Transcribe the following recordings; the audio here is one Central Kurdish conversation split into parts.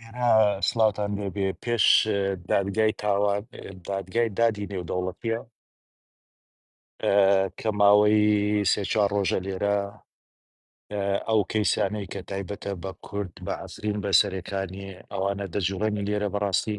ئێرە سڵاوتان لێبێ پێش دادگای تاوان دادگای دادی نێودەوڵەتیە کە ماوەی سێ چوار ڕۆژە لێرە ئەو کەیسانەی کە تایبەتە بە کورد بە عفرین بە سەرەکانی ئەوانە دەجوڵێنی لێرە بەڕاستی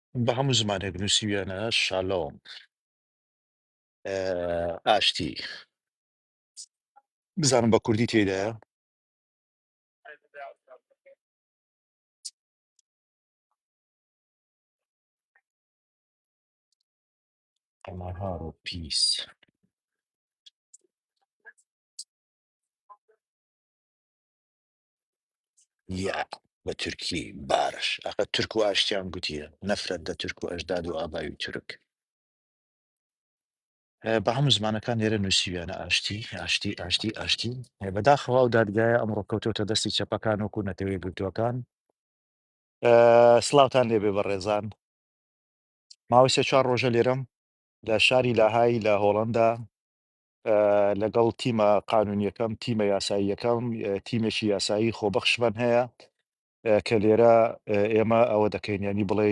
بە هەموو زمانێک نووسیویانە شالۆم اه، ئاشتی بزانم بە کوردی تێدایە ئەمارار و پیس یا بە تورکی بارش ئەقە تورک و ئاشتیان گوتیە نەفرەت دە تورک و ئەژداد و ئابای و تورک اه، بە هەموو زمانەکان لێرە نووسیویانە ئاشتی ئاشتی ئاشتی ئاشتی اه، بەداخەوە و دادگایە ئەمڕۆ کەوتۆتە دەستی چەپەکان وەکو نەتەوەی گرتووەکان اه، سڵاوتان لێبێ بە ڕێزان ماوەی سێ چوار ڕۆژە لێرەم لە شاری لاهای لە هۆڵندا لەگەڵ تیمە قانونییەکەم، تیمە یاساییەکەم، تیمێکی یاسایی خۆبەخشمان هەیە کە لێرە ئێمە ئەوە دەکەین، یانی بڵێ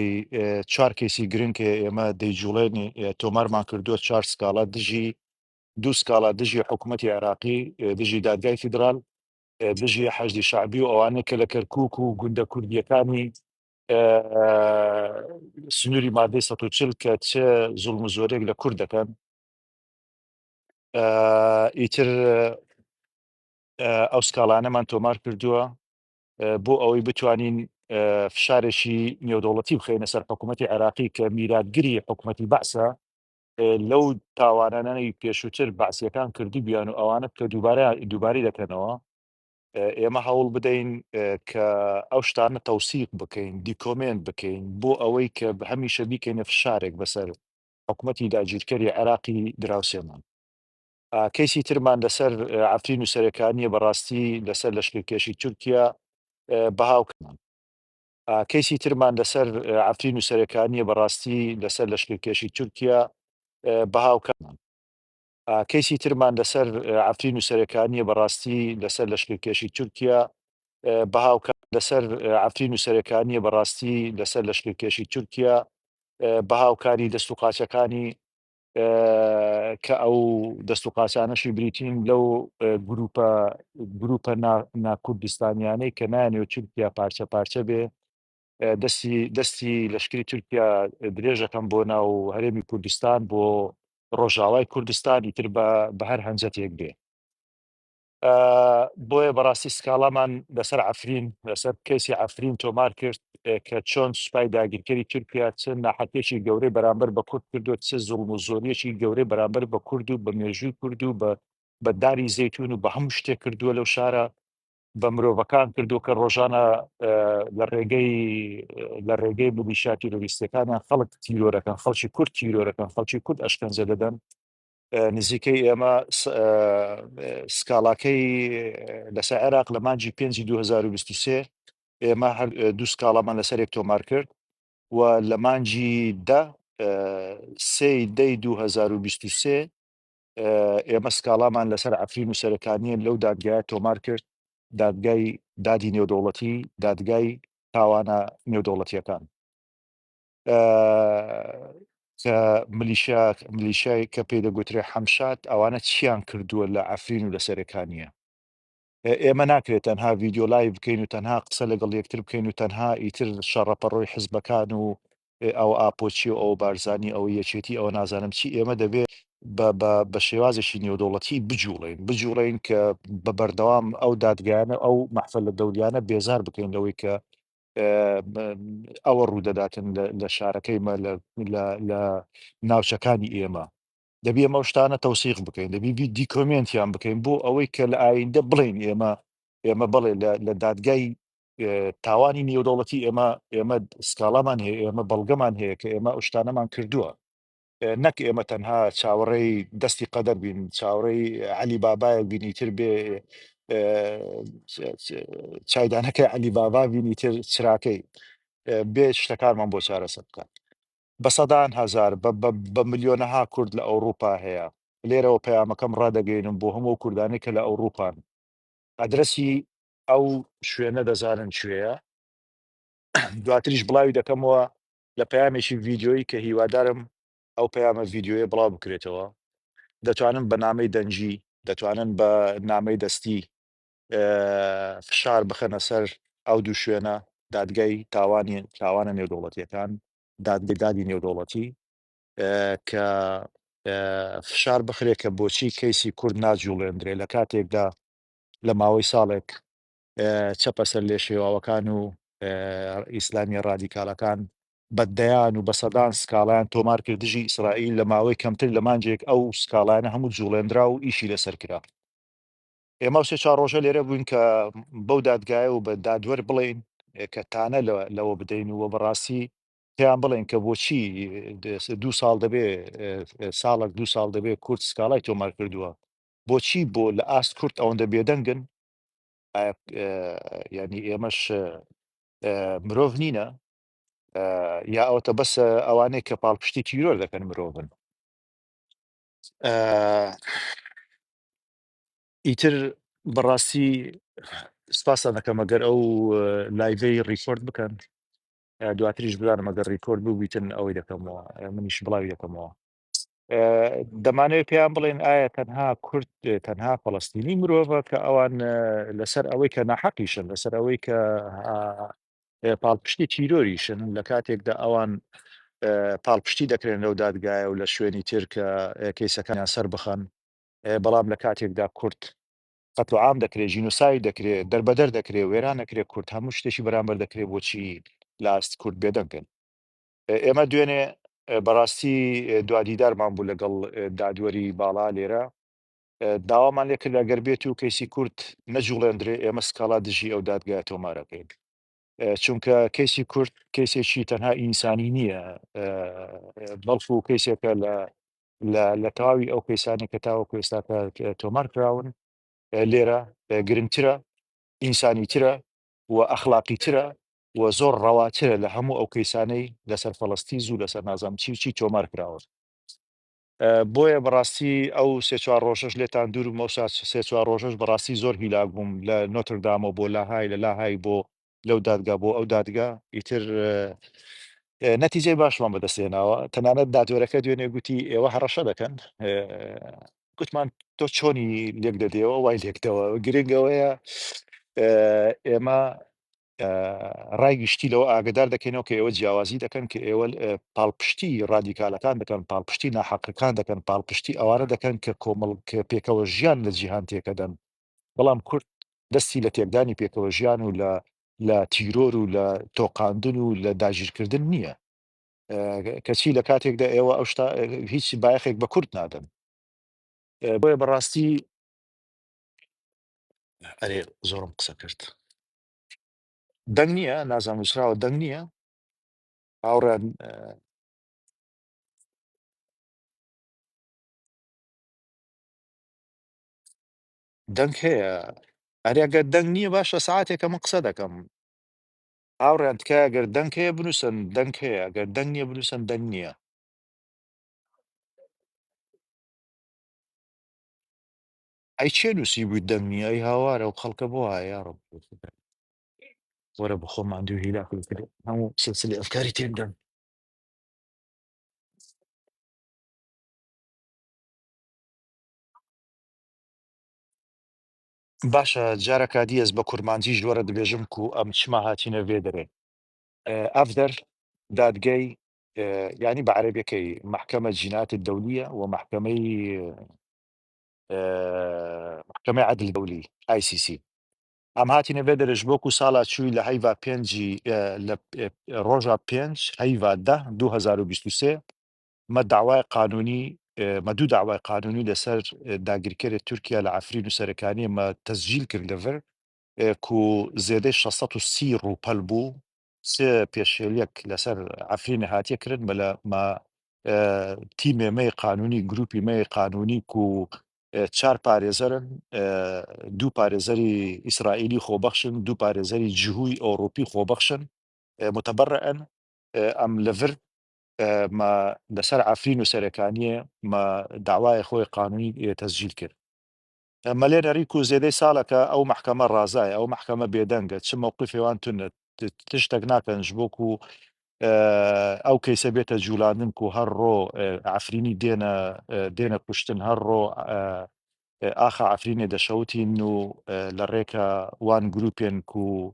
چوار کەیسی گرنگ کە ئێمە دەیجوڵێنی تۆمارمان کردووە چوار سکاڵا دژی دوو سکاڵا دژی حکوومەتی عێراقی دژی دادگای فیدرال دژی حەشدی شعبی و ئەوانەیە کە لە کەرکک و گوندە کوردیەکانی سنووری مادەی ١چل کە چ زوڵم و زۆرێک لە کورد دەکەن ئیتر ئەو سکاڵانەمان تۆمار کردووە بۆ ئەوەی بتوانین فشارێکی نێودەوڵەتی بخێنە سەر حکوومەتتی عراقی کە میراتگری حکوومەتتی بەسە لەو تاوانانەی پێشووتر باسیەکان کردی بیان و ئەوانە کە دووبارە دووباری دەکەنەوە ئێمە هەوڵ بدەین کە ئەو شتانە تەوسیق بکەین دیکۆمنت بکەین بۆ ئەوەی کە هەمیشە بیکەینە فشارێک بەسەر حکومەتی داگیرکەری عێراقی دراوسێمان کەیسی ترمان لەسەر عەفرین و سەرێکانیە بەڕاستی لەسەر لەشکرکێشی تورکیا بەهاوکمان کەیسی ترمان لەسەر عەفرین و سەرێکانیە بەڕاستی لەسەر لەشکرکێشی تورکیا بەهاوکەمان کەیسی ترمان لەسەر عەفرین و سەرێکانیە بەڕاستی لەسەر لەشکرکێشی تورکیا بەهاوکات لەسەر عەفرین و سەرێکانیە بەڕاستی لەسەر لەشکرکێشی تورکیا بەهاوکاری دەست و قاچەکانی کە ئەو دەست و قاچانەشی بریتین لەو گروپە گروپە ناکوردستانیانەی کە نایانەوێت تورکیا پارچە پارچە بێ دەستی دەستی لەشکری تورکیا درێژەکەم بۆ ناو هەرێمی کوردستان بۆ ڕۆژاوای کوردستان ئیتر بە بە هەر هەنجەتێک بێ بۆیە بەڕاستی سکاڵامان لەسەر عفرین لەسەر کەسی عفرین تۆمار کرد کە چۆن سوپای داگیرکەری تورکیا چ ناحەتێکی گەورەی بەرامبەر بە کورد کردو چ زوڵم و زۆریەکی گەورەی بەرامبەر بە کورد و بە مێژووی کورد و بە بەداری زەتون و بە هەموو شتێک کردووە لەو شارە بە مرۆڤەکان کردووە کە ڕۆژانە لە ڕێگەی لە ڕێگەی ملیشا تیرۆریستەکانیان خەڵک تیرۆرەکان خەڵکی کورد تیرۆرەکان خەڵکی کورد ئەشکەنجە دەدەن نزیکەی ئێمە سکاڵاکەی لەسەر عێراق لە مانجی پێ 2023 ئێمە هەر دوو سکاڵامان لەسەرێک تۆمار کرد و لە مانجی دە سێ دەی 2023 ئێمە سکاڵامان لەسەر عەفرین و سەرەکانییە لەو دادگایە تۆمار کرد، دادگای دادی نێودەوڵەتی، دادگای تاوانە نێودەوڵەتییەکان کە ملیشیا ملیشای کە پێی دەگوترێ حەمشاد ئەوانە چیان کردووە لە عەفرین و لە سەرەکانییە. ئێمە ناکرێت تەنها ڤیدیۆ لایڤ بکەین و تەنها قسە لەگەڵ یەکتر بکەین و تەنها ئیتر شەڕەپەڕۆی حزبەکان و ئەو ئاپۆچی و ئەو بارزانانی ئەو یەکێتی ئەوە نازانم چی ئێمە دەبێت بە شێوازێکی نێودوڵەتی بجوڵین بجوڵین کە بە بەردەوام ئەو دادگایانە ئەو مەحفل لە دەوریانە بێزار بکەین لەوەی کە ئەوە ڕوودەداتن لە شارەکەیمە لە ناوچەکانی ئێمە دەبی ئەمە شتانە تەوسیق بکەین دەبی بی دیکۆمنتیان بکەین بۆ ئەوەی کە لە ئایندە بڵین ئێمە ئێمە بڵێ لە دادگای تاوانی نێودەوڵەتی ئێمە ئێمە سکاڵامان هەیە ئێمە بەڵگەمان هەیە کە ئێمە ئەوشتانەمان کردووە نەک ئێمە تەنها چاوەڕێی دەستی قەدەر بین چاوڕێی علی بابایەک بینی تر بێ چایدانەکە علی بابا بینی تر چراکەی بێ شتەکانمان بۆ چارەسە بکات بە سەدان هەزار، بە بە بە ملیۆنەها کورد لە ئەوڕوپا هەیە. لێرەوە پەیامەکەم ڕادەگەینم بۆ هەموو ئەو کوردانەی کە لە ئەوڕوپان. ئەدرەسی ئەو شوێنە دەزانن کوێیە. دواتریش بڵاوی دەکەمەوە لە پەیامێکی ڤیدیۆیی کە هیوادارم ئەو پەیامە ڤیدیۆیە بڵاو بکرێتەوە. دەتوانن بە نامەی دەنگی، دەتوانن بە نامەی دەستی فشار بخەنە سەر ئەو دوو شوێنە، دادگای تاوانی تاوانە نێودەوڵەتییەکان، دادگای دادی نێودەوڵەتی، کە فشار بخرێ کە بۆچی کەیسی کورد ناجووڵێندرێ لە کاتێکدا لە ماوەی ساڵێک چەپە سەرلێشێواوەکان و ئیسلامیە ڕادیکالەکان بە دەیان و بە سەدان سکاڵیان تۆمار کرد دژی ئیسرائیل لە ماوەی کەمتر لە مانجێک ئەو سکاڵانە هەموو جوڵێنرا و ئیشی لەسەر کرا ئێمە سێ چوار ڕۆژە لێرە بووین کە بەو دادگایە و بە دادوەر بڵێین کە تانە لەوە بدەین و بەڕاستی پێیان بڵێن کە بۆچی دوو ساڵ دەبێ ساڵک دوو ساڵ دەبێ کورد سکاڵای تۆمار کردووە بۆچی بۆ لە ئاست کورد ئەوەندە بێدەنگن ینی ئێمەش مرۆڤ نینە یا ئەوتە بەس ئەوانەیە کە پاڵپشتی تیرۆر دەکەن مرۆڤن ئیتر بەڕاستی سپاستان دەکەم ئەگەر ئەو لایڤەی ڕیکۆرد بکەن اه، دواتریش بزانم ئەگەر ڕیکۆرد ببیتن ئەوەی دەکەمەوە اه، منیش بڵاوی دەکەمەوە اه، دەمانەوێت پێیان بڵێن ئایا تەنها کورد اه، تەنها فەڵەستینی مرۆڤە کە ئەوان اه، لەسەر ئەوەی کە ناحەقیشن لەسەر ئەوەی کە اه، اه، پاڵپشتی تیرۆریشن لە کاتێکدا ئەوان اه، پاڵپشتی دەکرێن لەو دادگایە و لە شوێنی تر کە اه، کەیسەکانیان سەر بخەن بەڵام لە کاتێکدا کورد قەتڵ عام دەکرێ ژینۆساید دەکرێ دەربەدەر دەکرێ وێران دەکرێ کورد هەموو شتێکی بەرامبەر دەکرێ بۆچی لە ئاست کورد بێدەنگ بێن ئێمە دوێنێ بەڕاستی دوا دیدارمان بوو لەگەڵ دادوەری باڵا لێرە داوامان لێ کرد ئەگەر بێت و کەیسی کورد نەجوڵێندرێ ئێمە سکاڵا دژی ئەو دادگای تۆمارەکەین چونکە کەیسی کورد کەیسێکی تەنها ئینسانی نییە بەڵکو کەیسێکە لە لە لە تەواوی ئەو کەیسانەی کە تاوەکو ئێستا کە تۆمار کراون لێرە گرنگترە ئینسانی ترە و ئەخلاقی ترە و زۆر ڕەواترە لە هەموو ئەو کەیسانەی لەسەر فەڵستی زوو لەسەر نازام چی و چی تۆمار کراون بۆیە بەڕاستی ئەو سێ چوار ڕۆژەش لێتان دوور مەوسا سێ چوار ڕۆژەش بەڕاستی زۆر هیلاک بووم لە نۆتردامەوە بۆ لاهای لە لاهای بۆ لەو دادگا بۆ ئەو دادگا ئیتر نەتیجەی باشمان بەدەست هێناوە تەنانەت دادوەرەکە دوێنێ گوتی ئێوە هەڕەشە دەکەن گوتمان تۆ چۆنی لێک دەدەوە وای لێکدەوە گرنگەوەیە ئێمە ڕای گشتی لەوە ئاگدار دەکەینەوە کە ئێوە جیاوازی دەکەن کە ئێوە پاڵپشتی ڕادیکالەکان دەکەن پاڵپشتی ناحقەکان دەکەن پاڵپشتی ئەوانە دەکەن کە کۆمەڵ پێکەوە ژیان لە جیهان تێکەدەن بەڵام کورد دەستی لە تێکدانی پێکەوەژیان و لە لە تیرۆر و لە تۆقاندن و لە داگیرکردن نییە، کەچی لە کاتێکدا ئێوە ئەو شتە هیچ بایەخێک بە کورد نادەن. بۆیە بەڕاستی ئەرێ زۆرم قسە کرد دەنگ نییە نازانم نووسراوە دەنگ نییە هاوڕێیان دەنگ هەیە ئەرێ ئەگەر دەنگ نییە باشە سعاتێکە من قسە دەکەم هاوڕیان تکایە گەر دەنگ هەیە بنووسن دەنگ هەیە گەر دەنگ نییە بنووسن دەنگ نییە ئەی چێ نووسی بووی دەنگ نییە ئەی هاوارە و خەڵکە بۆ هایا ڕب وەرە بخۆ ماندوو هیلا کرد هەموو سلسلی ئەفکاری تێدەم باشە جارە کادی ئەز بە کورمانجی ژۆرە دبێژم کو ئەم چما هاتینە ڤێ دەرێ ئەڤ دەر دادگەی یعنی بە عەرەبیەکەی محکمە جینات دەولیە و محکمەی محکمەی عدل دەولی ئای سی سی ئەم هاتینە ڤێ دەرێش بۆکو ساڵا چووی لە هەیڤا پێنجی لە ڕۆژا پێنج هەیڤا ده 2023 مە داوای قانونی مە دوو داوای قانونی لە سەر داگیرکەرێ تورکیا لە عەفرین و سەرکانیە مە تەسجیل کرد لە ڤر کو زێدەی شەش سەد و سی ڕووپەل بوو چ پێشێلیەک لە سەر عەفرینێ هاتیە کرن مە لە مە تیمێ مەی قانونی گروپی مەی قانونی کو چار پارێزەرن دوو پارێزەری ئیسرائیلی خۆبەخشن دوو پارێزەری جهوی ئەوڕوپی خۆبەخشن متبرئن ئەم لە ڤر مە لە سەر عەفرین و سەرێکانیێ مە دەعوایێ خوەێ قانونی ئێ تەسجیل کرد. مە لێ نەڕی کوو زێدەی ساڵە کە ئەو مەحکەمە ڕازایە، ئەو مەحکەمە بێدەنگە، چ مەوقیفێ وان تونە، تشتەک ناکەن ژ بۆ کوو ئەو کەیسە بێتە جوولاندن کوو هەر ڕۆ عەفرینی دێنە دێنە کوشتن، هەر ڕۆ ئاخە عەفرینێ دەشەوتین و لە ڕێکە وان گرووپێن کوو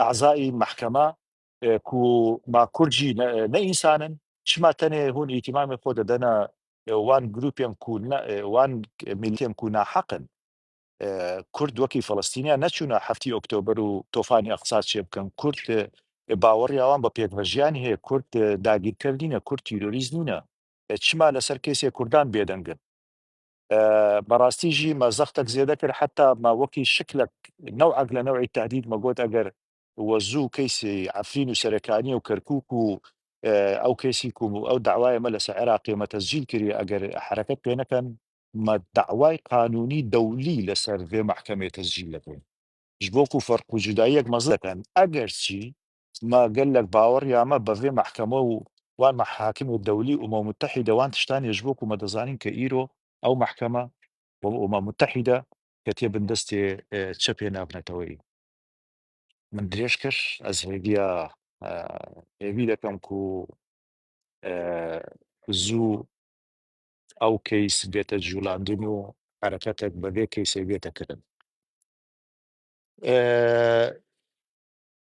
ئەعزائی مەحکەمە کو ما کورد ژی نە ئینسانن چ ما تەنێ هوون ئیتیمامێ خۆ دەدەنە وان گروپێم کو نە وان میلتێم کو ناحەقن کورد وەکی فەلەستینیا نەچوونە هەفتی ئۆکتۆبەر و تۆفانی ئەقسا چێ بکەن کورد باوەڕی ئەوان بە پێکڤەژیان هەیە کورد داگیرکەر نینە کورد تیرۆریست نینە چ ما لەسەر کەیسێ کوردان بێدەنگن بەڕاستی ژی مە زەختەک زێدە کرد حەتا مە وەکی شکلەک نەوعەک لە نەوعی تەهدید مە گۆت ئەگەر وە زوو کەیسی عەفرین و سەرکانیە و کەرکوک و ئەو کەیسی کوم و ئەو دەعوایە مە لەسە عێراقیە مە تەسجیل کریە ئەگەر حەرەکەت پێ نەکەن مە دەعوای قانونی دەولی لەسەر ڤێ مەحکەمەیە تەسجیل دەکەین ژ بۆکو فەرق و جوداییەک مە زەکەن ئەگەرچی ما گەلەک باوەڕیامە بە ڤێ مەحکەمە و وان مەحاکم دەولی ئومەم موتەحیدە وان تشتانێش بووک و مە دەزانین کە ئیرۆ ئەو مەحکەمە و ئومەم موتەحیدە کە تێ بن دەستێ چەپێ ناڤ نەتەوەیی من درێژ کەش ئەز هێڤیا هێڤی دەکەم کو زوو ئەو کەیس بێتە جوولاندن و حرەکەتێک بە ڤێ کەیسێ بێتە کردن.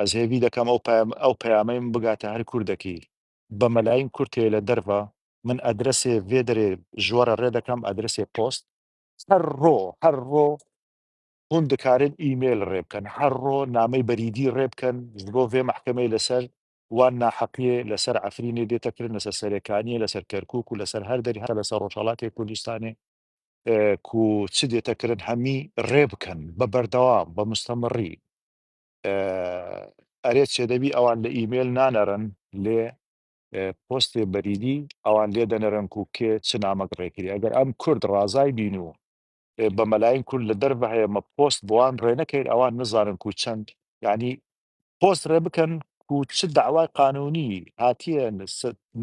ئەز هێڤی دەکەم ئەو پەیام ئەو پەیامەیم بگاتە هەر کوردەکی بە مەلایم کورتێ لە دەرڤە من ئەدرەسێ ڤێ دەرێ ژوەرە ڕێ دەکەم ئەدرەسێ پۆست هەر ڕۆ هەر ڕۆ هون دکارن ئیمێل ڕێ بکەن هەر ڕۆ نامەی بەریدی ڕێ بکەن ji بۆ vê مەحکەمەی لەسەر وان ناحەقیێ لەسەر عەفرینێ دێتەکردن لەسەر سەرێکانیە لەسەر کەرکک و لەسەر هەر دەری هەر لەسەر ڕۆژهەڵاتێ کوردستانێ کو چ دێتە کرن هەمی رێ بکەن بە بەردەوام بە مستەمڕی ئەرێ چێ دەبی ئەوان لە ئیمێل نانەرن لێ پۆستێ بەریدی ئەوان لێ دەنەرن کو کێ چ نامەک رێکری ئەگەر ئەم کورد رازای بین و بە مەلاین کورد لە دەرڤە هەیە مە پۆست بۆان رێ نەکەین ئەوان نزانن کو چەند یانی پۆست رێ بکەن و چ دەعوای قانونی هاتیە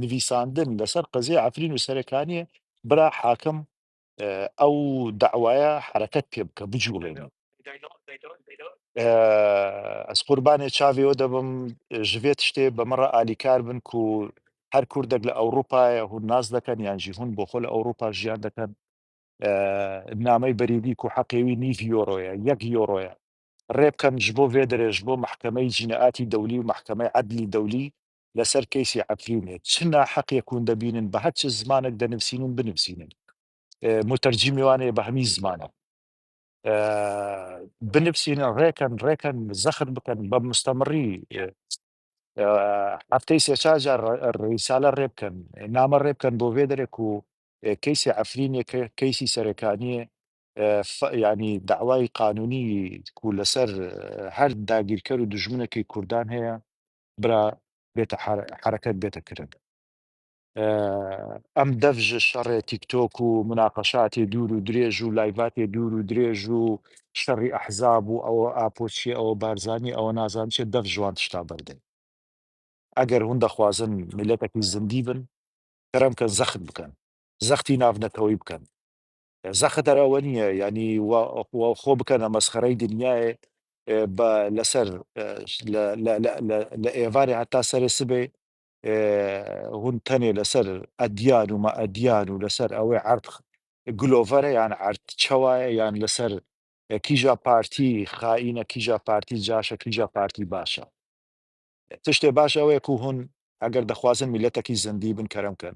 نڤیساندن لەسەر قەزیەی عەفرین و سەرێکانیە برا حاکم ئەو دەعوایە حەرەکەت پێ بکە بجوڵێنەوە ئەز قوربانێ چاڤیەوە دەبم ژڤێت شتێ بە مەڕە ئالیکار بن و هەر کوردێک لە ئەوروپایە هون ناز دەکەن یان ژی هون بۆ خۆ لە ئەوروپا ژیان دەکەن نامەی بەریدی و حەقێوی نیڤ یۆرۆیە یەک یۆرۆیە ڕێ بکەن ژ بۆ ڤێدرێ ژ بۆ مەحکەمەی جینائاتی دەولی و مەحکەمەی عەدلی دەولی لە سەر کەیسی عەفرینێ چ ناحەقێک وون دەبینن بە هەر چ زمانێک دەنوسینن بنوسینن موتەرجیمی وانەیە بە هەمی زمانە بنوسینن ڕێ کەن ڕێ کەن زەخت بکەن بە مستەمڕی هەفتەی سێ چار جار ڕیسالە ڕێ بکەن نامە ڕێ بکەن بۆ ڤێدرێک و کەیسی عەفرینێ کە کەیسی سەرەکانیە یانی دەعوای قانونی کو لەسەر هەر داگیرکەر و دوژمنەکی کوردان هەیە برا بێتە حەرەکەت بێتە کرن ئەم دەڤژە شەڕێ تیکتۆک و مناقەشاتی دوور و درێژ و لایڤاتی دوور و درێژ و شەڕی ئەحزاب و ئەوە ئاپۆچی ئەوە بارزانانی ئەوە نازان چێت دەف ژوان تشتا بەردەن ئەگەر هون دەخوازن میلەتەکی زندی بن تەرەم کە زەخت بکەن زەختی ناف نەتەوەی بکەن زەخت هەر ئەوە نیە یانی وا خۆ بکەنە مەسخەرەی دنیاێ بە لە سەر لە ئێڤارێ هەتا سەرێ سبێ هون تەنێ لە سەر ئەدیان و مە ئەدیان و لە سەر ئەوێ عەرد گلۆڤەرە یان عەرد چەوایە یان لە سەر کیژا پارتی خائینە کیژا پارتی جاشە کیژا پارتی باشە تشتێ باش ئەوێ کو هون ئەگەر دەخوازن میلەتەکی زەندی بن کەرم کەن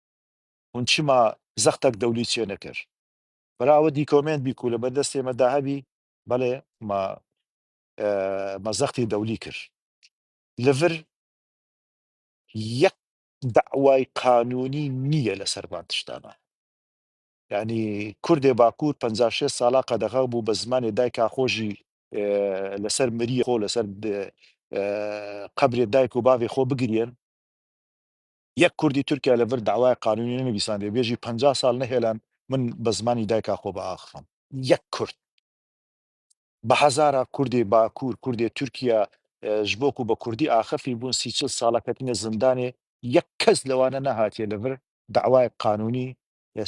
هون چما زەختەک دەولی چێ نەکەر. برا وە دیکۆمێنت بیکولە بە دەستێ مە داهبی بەڵێ مە مە زەختی دەولی کر لڤر یەک دەعوای قانونی نیە لە سەر ڤان تشتانا یانی کوردێ باکور پەنجا شێست سالا قەدەغە بو بە زمانێ دایک کاخۆژی لە سەر مریە خۆ لە سەر قەبرێ دایک و باڤێ خۆ بگریەن یەک کوردی تورکیا لە ڤر دەعوای قانونی نەنویساندی و بێژی پەنجا سال نەهێلان من بە زمانی دایکا خۆ بە ئاخفم یەک کورد بە هەزارا کوردی باکور کوردی تورکیا ژ بۆ کو بە کوردی ئاخفی بون سی چل سالە کەتنە زندانێ یەک کەس لەوانە نەهاتیە لە ڤر دەعوای قانونی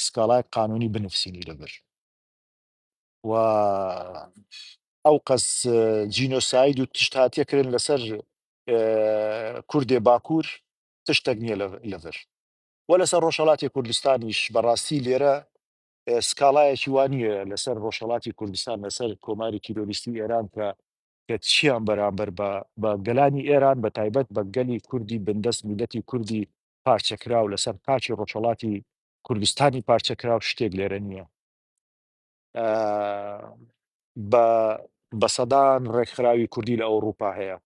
سکاڵای قانونی بنفسینی لە ڤر و ئەو قەس جینۆساید و تشت هاتیە کرن لە سەر کوردی باکور تشتەک نیە لەڤر وە لەسەر ڕۆژهەڵاتی کوردستانیش بەڕاستی لێرە سکاڵایەکی وانە لەسەر ڕۆژهڵاتی کوردستان لەسەر کۆماری تیرۆریستی ئێران کە کە چیان بەرامبەر بە بە گەلانی ئێران بە تایبەت بە گەلی کوردی بندەست میلەتی کوردی پارچەکراو لەسەر قاچی ڕۆژهڵاتی کوردستانی پارچەکراو شتێک لێرە نییە بە بە سەدان ڕێکخراوی کوردی لە ئەوروپا هەیە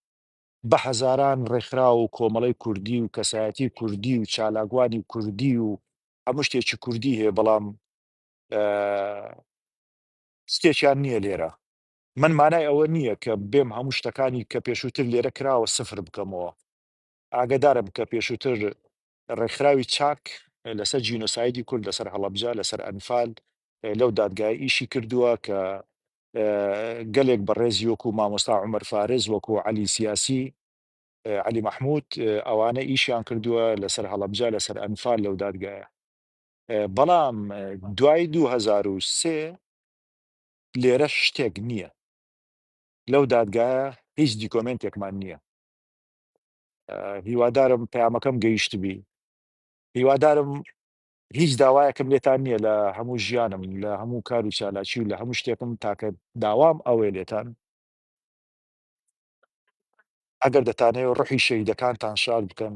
بە هەزاران ڕێکخراو و کۆمەڵەی کوردی و کەسایەتی کوردی و چالاکوانی کوردی و هەموو شتێکی کوردی هەیە بەڵام شتێکیان نییە لێرە من مانای ئەوە نییە کە بێم هەموو شتەکانی کە پێشووتر لێرە کراوە سفر بکەمەوە ئاگدارم کە پێشووتر ڕێکخراوی چاک لەسەر جینۆسایدی کورد لەسەر هەڵەبجە لەسەر ئەنفال لەو دادگایە ئیشی کردووە کە گەلێک بەڕێزی وەکو مامۆستا عمر فارس وەکو علی سیاسی علی محمود ئەوانە ئیشیان کردووە لەسەر هەڵەبجە لەسەر ئەنفال لەو دادگایە بەڵام دوای 2023 لێرە شتێک نییە لەو دادگایە هیچ دیکۆمنتێکمان نییە هیوادارم پەیامەکەم گەیشتبی هیوادارم هیچ داوایەکم لێتان نییە لە هەموو ژیانم لە هەموو کار و چالاکی و لە هەموو شتێکم تاکە داوام ئەوێ لێتان ئەگەر دەتانێ ڕحی شەیدەکانتان شار بکەن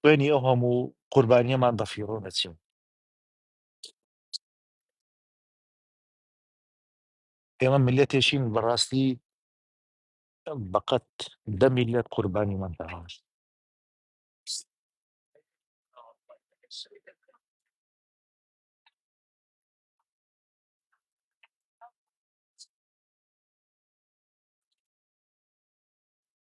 خوێنی ئەو هەموو قوربانیەمان بە فیڕۆ نەچێ ئێمە میلەتێکین بەڕاستی بەقەت دە میلەت قوربانیمان داوە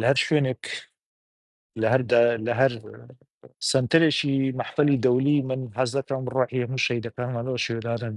لە هەر شوێنێک لە هەر دا- لە هەر سنتەرێکی مەحفلی دەولی من حەزەکەم ڕۆحی هەموو شەیدەکانمانەوە شێدارن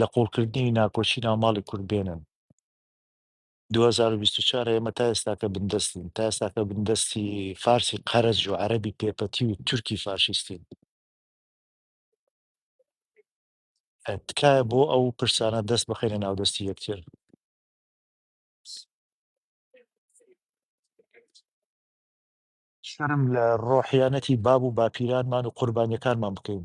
لە قوڵکردنی ناکۆکی ناو ماڵی کورد بێنن دوو هەزار و بیست و چوار ئێمە تا ئێستاکە بندەستین تا ئێستاکە بندەستی فارسی قەرەج و عەرەبی پێپەتی و تورکی فاشیستین تکایە بۆ ئەو پرسانە دەست بخەینە ناودەستی یەکتر شەرم لە ڕۆحیانەتی باب و باپیرانمان و قوربانیەکانمان بکەین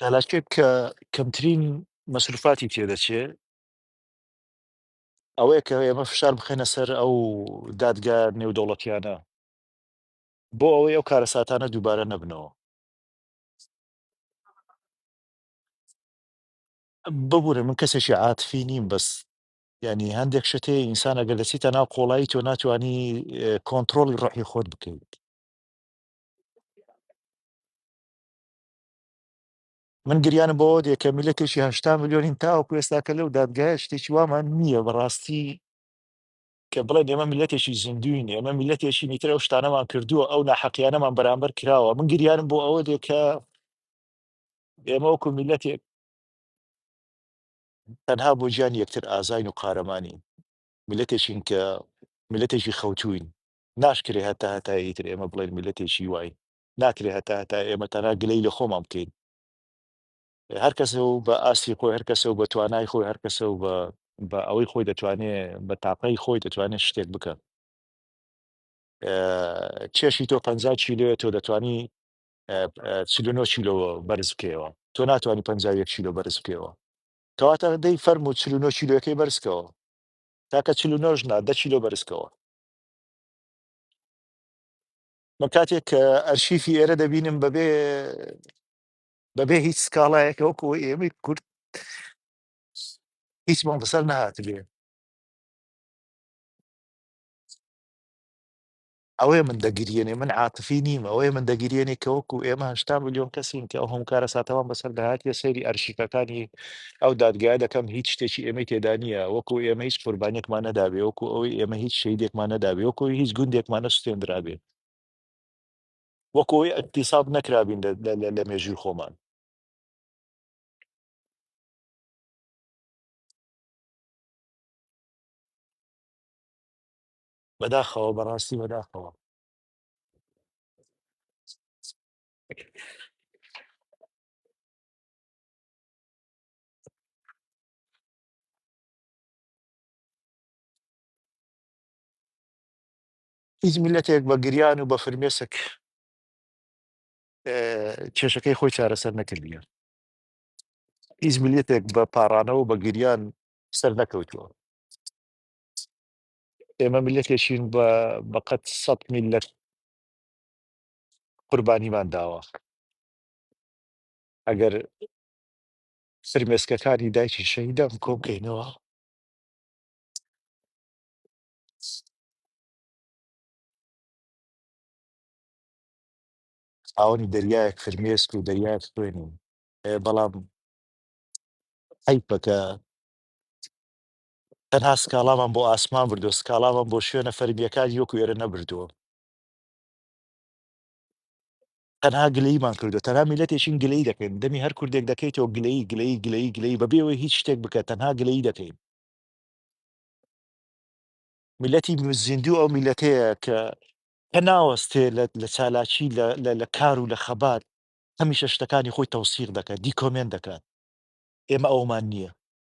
چالاکێک کە کەمترین مەسروفاتی تێدەچێ ئەوەیە کە ئێمە فشار بخەنە سەر ئەو دادگا نێودەوڵەتیانە بۆ ئەوەی ئەو کارەساتانە دووبارە نەبنەوە ببورە من کەسێکی عاتفی نیم بەس یانی هەندێک شت هەیە ئینسان ئەگەر دەچیتە ناو قۆڵایی تۆ ناتوانی کۆنتترۆڵی ڕحی خۆت بکەیت من گریانە بۆ دێکە میلەتێکی هشتا میلیۆنین تاوەکو ئێستاکە لەو دادگایە شتێکی وامان نییە بەڕاستی کە بڵێ ئێمە میلەتێکی زیندوین ئێمە میلەتێکی نیترە و شتانەمان کردووە ئەو ناحەقیانەمان بەرامبەر کراوە من گریانم بۆ ئەوە دێکە ئێمە وەکو میلەتێک تەنها بۆ گیانی یەکتر ئازاین و قارەمانین، میللەتێکین کە میللەتێکی خەوتووین، ناشکرێ هەتا هەتایە ئیتر ئێمە بڵێین میللەتێکی واین، ناکرێ هەتا هەتایە ئێمە تەنها گلەی لە خۆمان بکەین، هەر کەسە و بە ئاستی خۆی، هەر کەسە و بە توانای خۆی، هەر کەسە و بە ئەوەی خۆی دەتوانێ، بە تاقەی خۆی دەتوانێ شتێک بکا. کێشی تۆ پەنجا کیلۆیە، تۆ دەتوانی چل و نۆ کیلۆ بەرز بکەیەوە تۆ ناتوانانی پەنجا و یەک کیلۆ بەرز بکەیەوە کەواتە دەی فەرموو چل و نۆ کیلۆیەکەی بەرزکەوە تاکە چل و نۆش نا دە کیلۆ بەرزکەوە من کاتێک کە ئەرشیفی ئێرە دەبینم بەبێ بەبێ هیچ سکاڵایەکە وەکو ئێمەی کورد هیچمان بەسەر نهاتبێ ئەوەیە من دەگریێنێ من عاتفی نیم ئەوەیە من دەگریێنێ کە وەکو ئێمە هشتا ملیۆن کەسین کە ئەو هەم کارە ساتەوان بەسەر داهاتە سەیری ئەرشیفەکانی ئەو دادگایە دەکەم هیچ شتێکی ئێمەی تێدانە وەکو ئێمە هیچ قوربانێکمان نەدابێ وەکو ئەوەی ئێمە هیچ شەیدێکمان نەدابێ وەکو هیچ گوندێکمان نەسوێنرابێ وەکۆی ئەتیساب نەکرابین لە مێژوی خۆمان بەداخەوە بەڕاستی بەداخەوە هیچ میلەتێک بە گریان و بە فرمێسک اه، کێشەکەی خۆی چارەسەر نەکردیە هیچ میلەتێک بە پاڕانەوە و بە گریان سەر نەکەوتووە ئێمە میللەتێکین بە بەقەد سەد میللەت قوربانیمان داوە ئەگەر فرمێسکەکانی دایکی شەهیدان کۆ بکەینەوە ئاوەنی دەریایەک فرمێسک و دەریایەک خوێنین بەڵام حیفە کە تەنها سکاڵامان بۆ ئاسمان بردووە، سکاڵامان بۆ شوێنە فەرمییەکانی وەکو ئێرە نەبردووە. تەنها گلەییمان کردووە، تەنها میللەتێکین گلەیی دەکەین، دەمی هەر کوردێک دەکەیتەوە گلەیی، گلەیی، گلەیی، گلەیی، بەبێ ئەوەی هیچ شتێک بکە، تەنها گلەیی دەکەین. میللەتی زیندوو ئەو میللەتەیە کە کە ناوەستێ لە لە چالاکی، لە لە لە کار و لە خەبات، هەمیشە شتەکانی خۆی تەوسیق دەکات، دیکۆمێنت دەکات. ئێمە ئەوەمان نییە.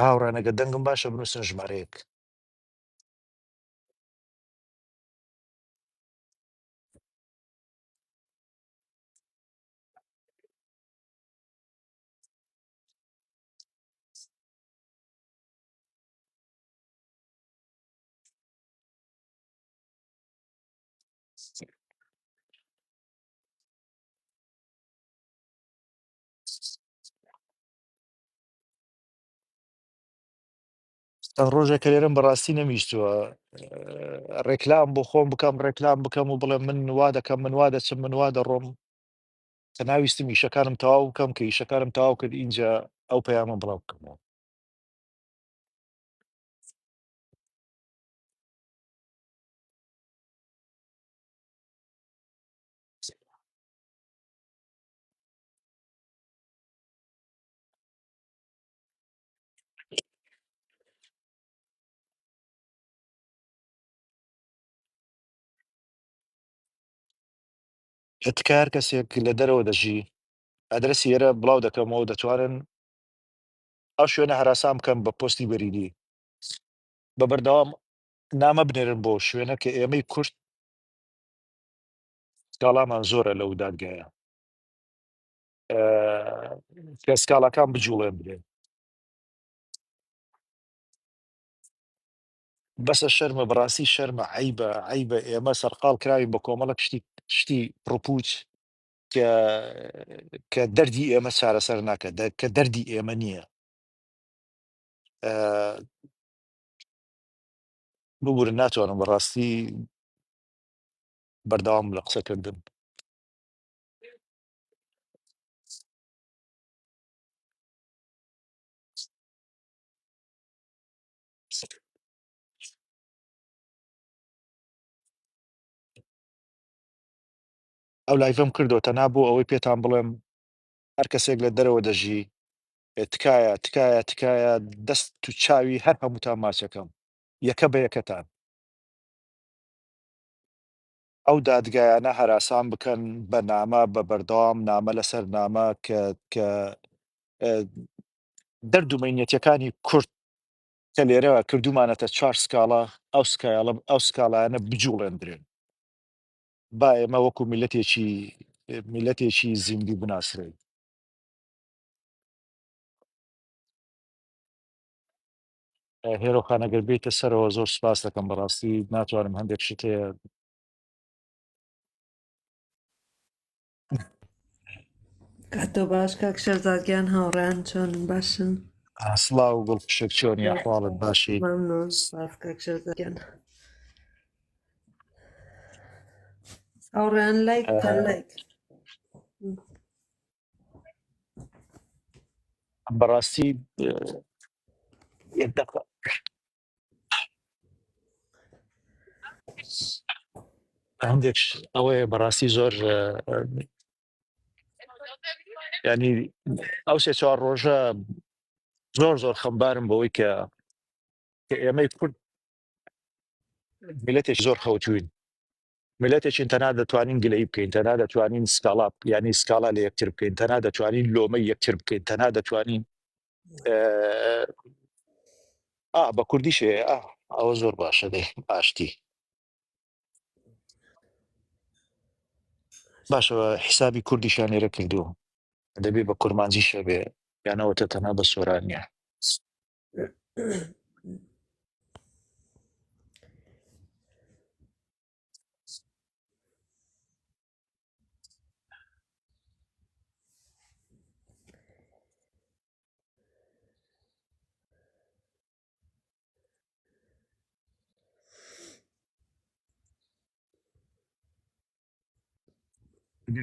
هاوڕێیان ئەگەر دەنگم باشە بنووسن ژمارەیەک چەند ڕۆژێکە لێرەم بەڕاستی نەمیشتووە ڕێکلام بۆ خۆم بکەم ڕێکلام بکەم و بڵێ من وا دەکەم من وا دەچم من وا دەڕۆم کە ناویستم ئیشەکانم تەواو بکەم کە ئیشەکانم تەواو کرد اینجا ئەو پەیامە بڵاو بکەمەوە تکار کەسێک لە دەرەوە دەژی ئەدرسی ئێرە بڵاو دەکەمەوە دەتوانن ئەو شوێنە هەراسان بکەم بە پۆستی بەریدی بە بەردەوام نامە بنێرن بۆ شوێنە کە ئێمەی کورد کاڵامان زۆرە لەو دادگایە کەسکاڵاکان بجوڵێنرێن بەسە شەرمە بەڕاستی شەرمە عیبە عیبە ئێمە سەرقال کراوین بە کۆمەڵە شتی شتی ڕپوچ کە کە دەردی ئێمە چارەسەر ناکە دە- کە دەردی ئێمە نییە ئە، ببورن ناتوانم بەڕاستی بەردەوام لە قسەکردن ئەو لایڤم کردو تەنا بۆ ئەوەی پێتان بڵێم هەر کەسێک لە دەرەوە دەژی تکایە تکایە تکایە دەست تو چاوی هەر هەمووتان ماچەکەم یەکە بە یەکەتان ئەو دادگایانە هەراسان بکەن بە نامە بە بەردەوام نامە لەسەر نامە کە کە دەردو مەینەتەکانی کورد کە لێرە کردومانەتە چوار سکاڵا ئەو سکایڵە ئەو سکاڵایانە بجوڵێندرێن با ئێمە وەکو میلەتێکی میلەتێکی زیندی بناسرێن هێرۆ خان ئەگەر بێیتە سەرەوە زۆر سپاس دەکەم بەڕاستی ناتوانم هەندێک شت هەیە کاتۆ باش کاک شەرزادگیان هاوڕیان چۆن باشن سڵاو گوڵ پشێک چۆن یا حواڵت باشی ممنون سپاس کاک شەرزادگیان هاوڕیان لایک لایک بەڕاستی هەندێک ئەوەیە بەڕاستی زۆر ینی ئەو سێ چوار ڕۆژە زۆر زۆر خەمبارم بەوەی کە کە ئێمەی کورد میلەتێک زۆر خەوتوین میلەتێکین تەنها دەتوانین گلەیی بکەین، تەنها دەتوانین سکاڵا یانی سکاڵا لە یەکتر بکەین، تەنها دەتوانین لۆمەی یەکتر بکەین، تەنها دەتوانین ئا بە کوردی شێ ئا ئەوە زۆر باشە دەی ئاشتی باشەوە حیسابی کوردیشان لێرە کردووە دەبێ بە کورمانجی شەبێ یانەوەتە تەنها بە سۆرانە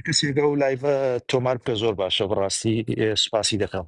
کەسێکە و لایڤە تۆمار بکە زۆر باشە بڕاستی سوپاسی دەکەم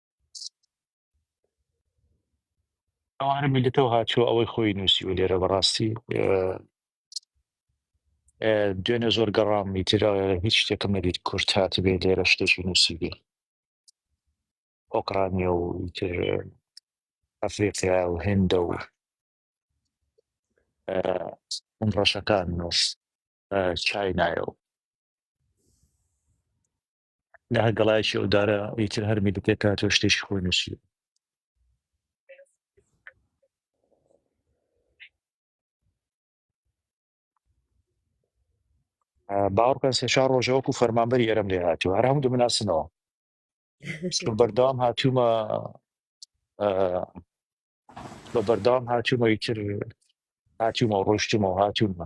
ئەوانە میلتەوە هاچوە ئەوەی خۆی نووسی و لێرە بەڕاستی دوێنێ زۆر گەڕام میتر هیچ شتێکم نەدیت کورت هاات بێ لێرە شتێکی نووسی بێ ئۆکرانیا و ئەفریقیا و هێندە و ئەم ڕەشەکان نووس چای نایە و لە هەر گەڵایەکی ئەو دارە ئیتر هەرمی دەکرێت تا تۆ شتێکی خۆی نووسی باوەڕکە سێشا ڕۆژەوەکو فەرمانبەری ئەرم لێ هاتوو هەر هەموو دەمناسنەوە چون بەردەوام هاتوومە بە بەردەوام هاتوومە ئیتر هاتوومە و ڕۆشتومە و هاتوومە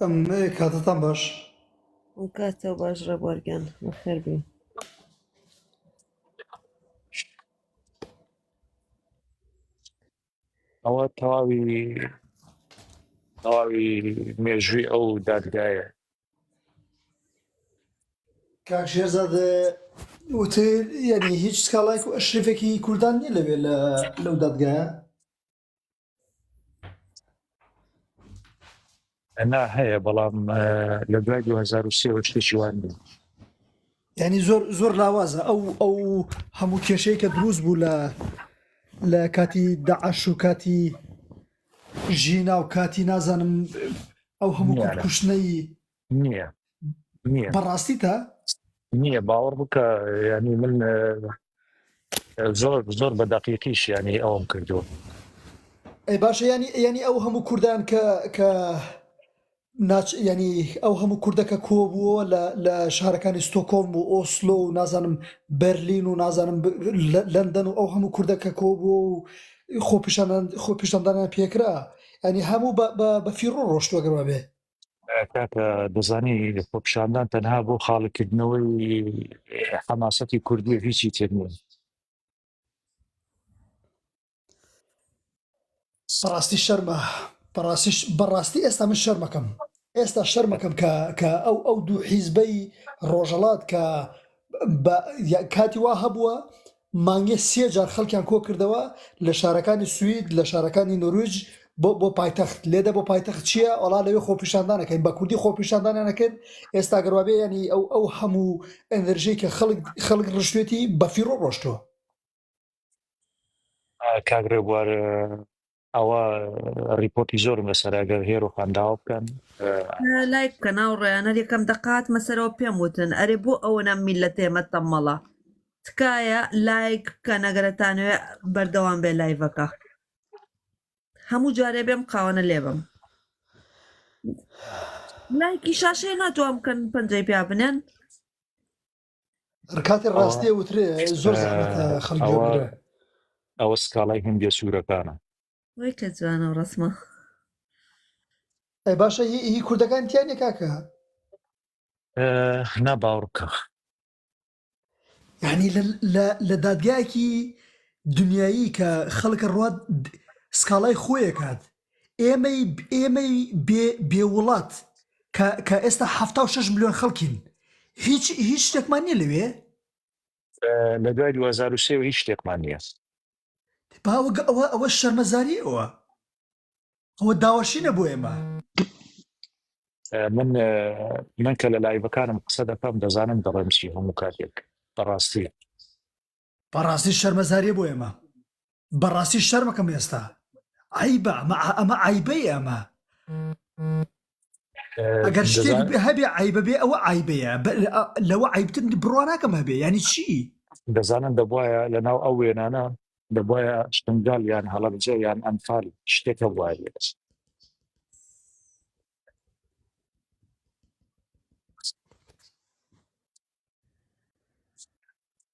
ئەم کاتتان باش کاتە باش ڕێبوارگیان بەخێربی ئەوە تەواوی تەواوی مێژووی ئەو دادگایە کاک شێرزاد وتر یعنی هیچ سکاڵایک و ئەشرفێکی کوردان نیە لەوێ لە لەو دادگایە ئەنا هەیە بەڵام لە دوای 2023 شتێکی وان بوو ینی زۆر زۆر لاوازە ئەو ئەو هەموو کێشەیە کە دروست بوو لە لە کاتی داعش و کاتی ژینا و کاتی نازانم ئەو هەموو کوشتنەی نییە نییە بەڕاستی تا نییە باوەڕ بکە ینی من زۆر زۆر بە دەقیقیش ینی ئەوم کردووە ئەی باشە ینی ینی ئەو هەموو کوردان کە کە ناچ ینی ئەو هەموو کوردەکە کۆبووە لە لە شارەکانی ستۆکۆم و ئۆسلۆ و نازانم بەرلین و نازانم لەندەن و ئەو هەموو کوردەکە کۆبووە و خۆپیشان خۆپیشاندانیان پێکرا ئەنی هەموو بە فیڕۆ ڕۆشتوەگەڕە بێ کاکە دەزانی خۆپیشاندان تەنها بۆ خاڵیکردنەوەی حەماسەتی کوردی و هیچی تر نیە بەڕاستی شەرمە بەڕاستیش بەڕاستی ئێستا من شەرمەکەم ئێستا شەرمەکەم کە کە ئەو ئەو دوو حیزبەی ڕۆژەڵات کە بە- یا- کاتی وا هەبووە مانگێ سێ جار خەڵکیان کۆکردەوە لە شارەکانی سوید لە شارەکانی نۆرویج بۆ بۆ پایتەخت لێدە بۆ پایتەخت چییە ئەڵا لەوێ خۆپیشاندانەکەین بە کوردی خۆپیشاندانانەکرد ئێستا گەروابێ ینی ئەو ئەو هەموو ئەندرژەی کە خەڵک خەڵک ڕشتێتی بەفیڕۆ ڕۆشتووە. کاک ڕێبوار ئەوە ڕیپۆتی زۆرم لەسەرا گەر هێرۆخان داوا بکەن لایک بکە ناو ڕێیانە یەکەم دەقات مەسەرەوە پێم وتن ئەرێ بۆ ئەوەنە میل لە تێمە تەمەڵە تکایە لایک بکە نەگەرەتانوێ بەردەوام بێ لایڤەکە هەموو جارێ بێم قاوەە لێبم لایکی شاشەیە ناتوان بکەن پەنجەی پیا بنێن ڕکاتی ڕاستێ وترێ زۆر خەڵگی ئەوە سکاڵای هندێ سوورەکانە وای کە جوانە و ڕسمە ئەی باشە هی کوردەکان تیانە کاکە نا باوڕکە یعنی لە دادگایەکی دنیایی کە خەڵکە ڕات سکاڵای خۆیەکات ئێمەی ئێمەی بێ بێ وڵات کە کە ئێستا حەفتا و شەش ملیۆن خەڵکین هیچ هیچ شتێکمان نیە لەوێ؟ لە دوای دوو هەزار و سێ وە هیچ شتێکمان نیە. باوە گە ئەوە ئەوە شەرمەزاری ئەوە ئەوە داواشینە بۆ ئێمە. من من کە لە لایڤەکانم قسە دەکەم دەزانم دەڵێم چی هەموو کاتێک بەڕاستی بەڕاستی شەرمەزاریە بۆ ئێمە بەڕاستی شەرمەکەم ئێستا عیبە ئەمە ئەمە عیبەی ئەمە ئەگەر شتێک هەبێ عیبە بێ ئەوە عیبەیە لەوە عیبتن بڕواناکەم هەبێ ینی چی دەزانن دەبواە لە ناو ئەو وێنانە دەبواە شنگال یان هەڵەبجە یان ئەنفال شتێکە وایە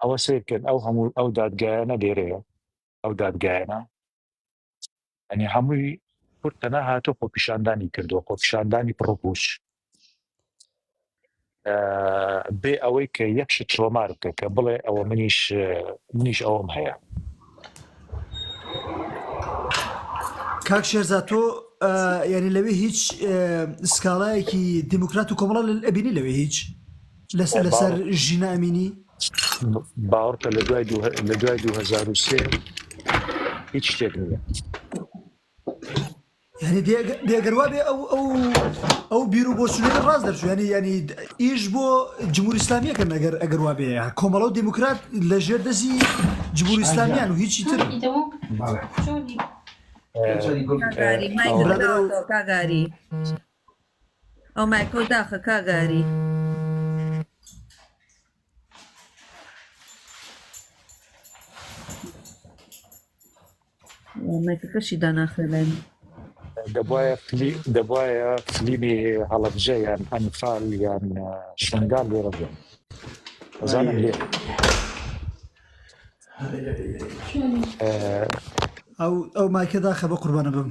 ئەوە سێکرد ئەو هەموو ئەو دادگایانە لێرەیە ئەو دادگایانە ئەنی هەمووی کورد تەنە هاتۆ خۆپیشاندانی کردو خۆپیشاندانی پڕپوش بێ ئەوەی کە یەکشت تۆمار بکە کە بڵێ ئەوە منیش منیش ئەوم هەیە کاک شێرزاد تۆ یعنی لەوێ هیچ سکاڵایەکی دیموکرات و کۆمەڵە ئەبینی لەوێ هیچ لەسەر لەسەر ژینا ئەمینی باوەڕکە لە دوای لە دوای 2023 هیچ شتێک نییە یانی دێگەر وابێ ئەو ئەو ئەو بیر و بۆچونێ ڕاست دەرچوو ینی ینی ئیش بۆ جمهوری ئسلامیەکە نەگەر ئەگەر وابێ کۆمەڵە و دموکرات لە ژێر دەستی جمهوری ئسلامیان و هیچی تر کاگاری ئەو مایکۆ داخە کاگاری مایکەکەشی داناخێ لای من. دەبایە فلی دەبایە فلیمی هەڵەبجە یان ئەنفال یان اه، شنگال لێرە بێن ئەزانم لێ اه، ئەو ئەو مایکە داخە بە قوربانە بم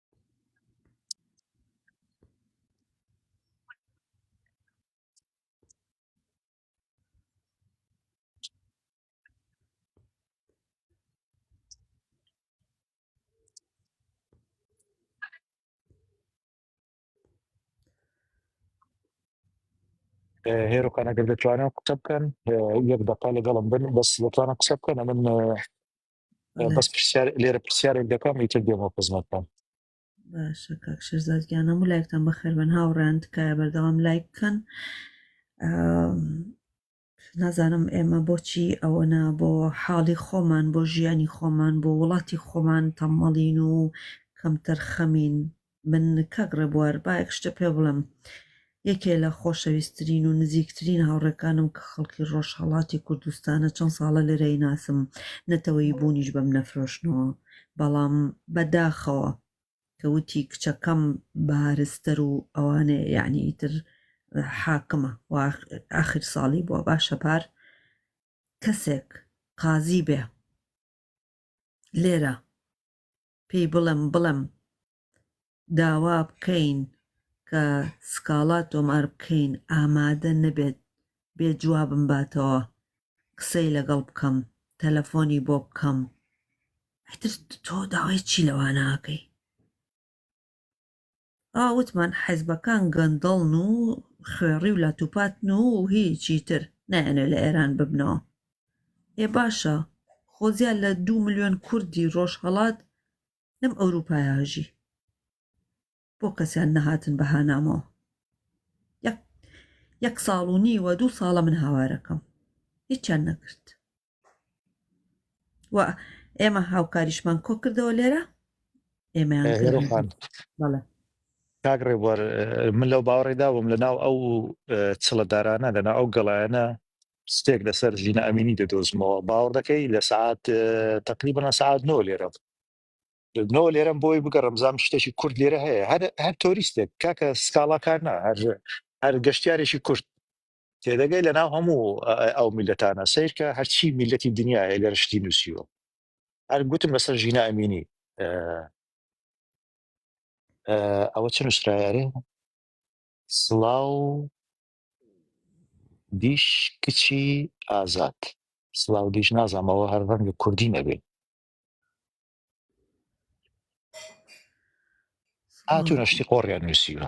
هێرو قەنەگەر دەتوانن قسە بکەن یەک دەقا لەگەڵم بن بەس لەتوانە قسە بکەن من بەس پرسیار لێرە پرسیارێک دەکەم ئیتر دێمە خزمەتتان باشە کاک شێرزادگیان هەموو لایکتان بەخێر بن هاوڕیان تکایە بەردەوام لایک بکەن نازانم ئێمە بۆچی ئەوەنا بۆ حاڵی خۆمان بۆ ژیانی خۆمان بۆ وڵاتی خۆمان تەمەڵین و کەمتەر خەمین من کاک ڕێبوار با یەک شتە پێ بڵێم یەکێ لە خۆشەویستترین و نزیکترین هاوڕێکانم کە خەڵکی ڕۆژهەڵاتی کوردستانە چەند ساڵە لێرەی ناسم نەتەوەی بوونیش بەم نەفرۆشنەوە بەڵام بەداخەوە کە وتی کچەکەم بارستەر و ئەوانێ یعنی تر حاکمە و آخر ساڵی بووە باشە پار کەسێک قازی بێ لێرە پێی بڵێم بڵێم داوا بکەین کە سکاڵا تۆمار بکەین ئامادە نەبێت بێ جوابم باتەوە قسەی لەگەڵ بکەم تەلەفۆنی بۆ بکەم تۆ داوای چی لەوانەکەی ئا وتمان حیزبەکان گەندەڵن و خوێڕی و لاتوپاتن و هیچی تر نایەنێ لە ئێران ببنەوە ئێ باشە خۆ زیاد لە دوو ملیۆن کوردی ڕۆژهەڵات لەم ئەوروپایا ژی بۆ کەسیان نەهاتن بە هانامەوە یەک ساڵ و نیوە دوو ساڵە من هاوارەکەم هیچیان نەکرد و ئێمە هاوکاریشمان کۆ کردەوە لێرە ئێمە کاک ڕێبوار من لەو باوەڕێدا بووم لە ناو ئەو چڵەدارانە لەنا ئەو گەڵایەنە شتێک لەسەر ژینە ئەمینی دەدۆزمەوە باوەڕ دەکەی لە سعات تقلی بەە سعات نۆ لێرە نۆ لێرەم بۆی بگە ڕمزام شتێکی کورد لێرە هەیە هەر هەر تۆریستێک کاکە سکاڵاکار نا هەر هەر گەشتارێکی کورد تێدەگەی لە ناو هەموو ئەو میلەتانە سیرکە هەرچی میلەتی دنیاە لە رشتی نووسیوە هەر گوتم لەسەر ژینا ئەمینی ئەوە چ نووسراارێ سڵاو دیش کچی ئازاد سڵاو دیش نازانمەوە هەر ڕەنگ کوردی نەبێ هاتو نەشتی قۆڕیان نووسیوە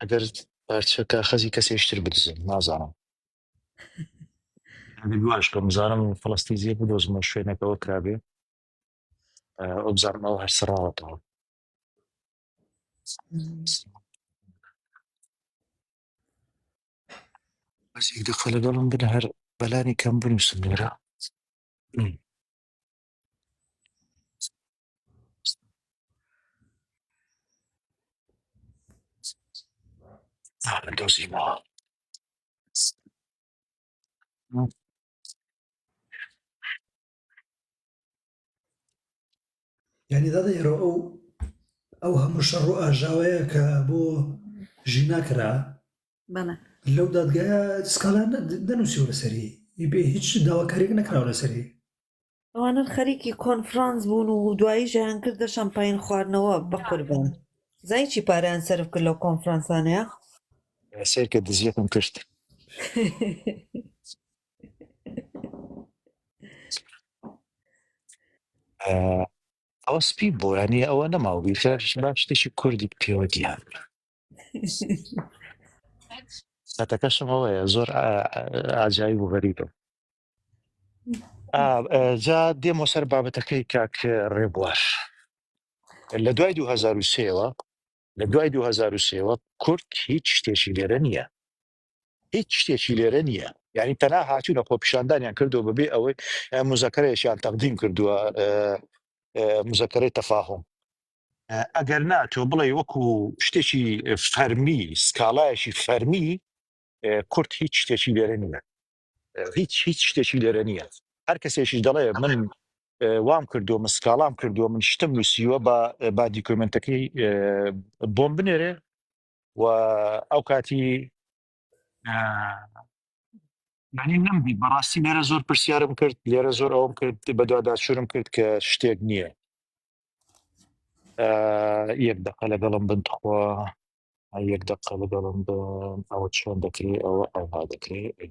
ئەگەر پارچە کاخەزی کەسێشتر بدزن نازانم گواش کەم بزانم فلستی زیێ بدۆزمە شوێنەکەەوە کرابێ ئەو بزانمەوە هەر سڕاوەتەوە بەسێک دەخە لەگەڵم بن هەر بەلانی کەم بنووسم لێرە دۆزی ما یعنی دەڵێ ئێرە ئەو ئەو هەموو شەڕ و ئاژاوەیە کە بۆ ژینا کرا بەڵێ لەو دادگایە سکاڵان دەنووسی لەسەری بێ هیچ داواکاریک نەکراوە لەسەری ئەوانە خەریکی کۆنفرانس بوون و دوایی ژیان کردە شەمپین خواردنەوە بەقوربان زای چی پاریان سرف کرد لەو کۆنفرانسانەیە سێرکە دزیەکم کرد ئەوە سپی بۆرانی ئەوە نەماوە بیرش باش شتێکی کوردی پێوە دیان سەتەکەشم ئەوەیە زۆر ئاجایی بوو غەریبم جا دێمە سەر بابەتەکەی کاک ڕێبواش لە دوای 2023ەوە لە دوای 2023ەوە کورد هیچ شتێکی لێرە نییە هیچ شتێکی لێرە نییە یعنی تەنا هاتوونە خۆپیشاندانیان کردو بەبێ ئەوەی مزەکەرەیەشیان تەقدیم کردووە مزەکەرەی تەفاهم ئەگەر نا تۆ بڵێ وەکو شتێکی فەرمی سکاڵایەکی فەرمی کورت هیچ شتێکی لێرە نیە هیچ هیچ شتێکی لێرە نییە هەر کەسێکیش دەڵێ من وام کردو من سکاڵام کردووە من شتم نووسیوە بە با دیکۆمنتەکەی بۆم بنێرێ و ئەو کاتی معنی نەمدی بەڕاستی لێرە زۆر پرسیارم کرد لێرە زۆر ئەوم کرد بەدواداچورم کرد کە شتێک نییە یەک دەقە لەگەڵم بنتخوا ئەی یەک دەقە بگەڕم بە ئەوە چۆن دەکرێ ئەوە ئەوها دەکرێ ئەی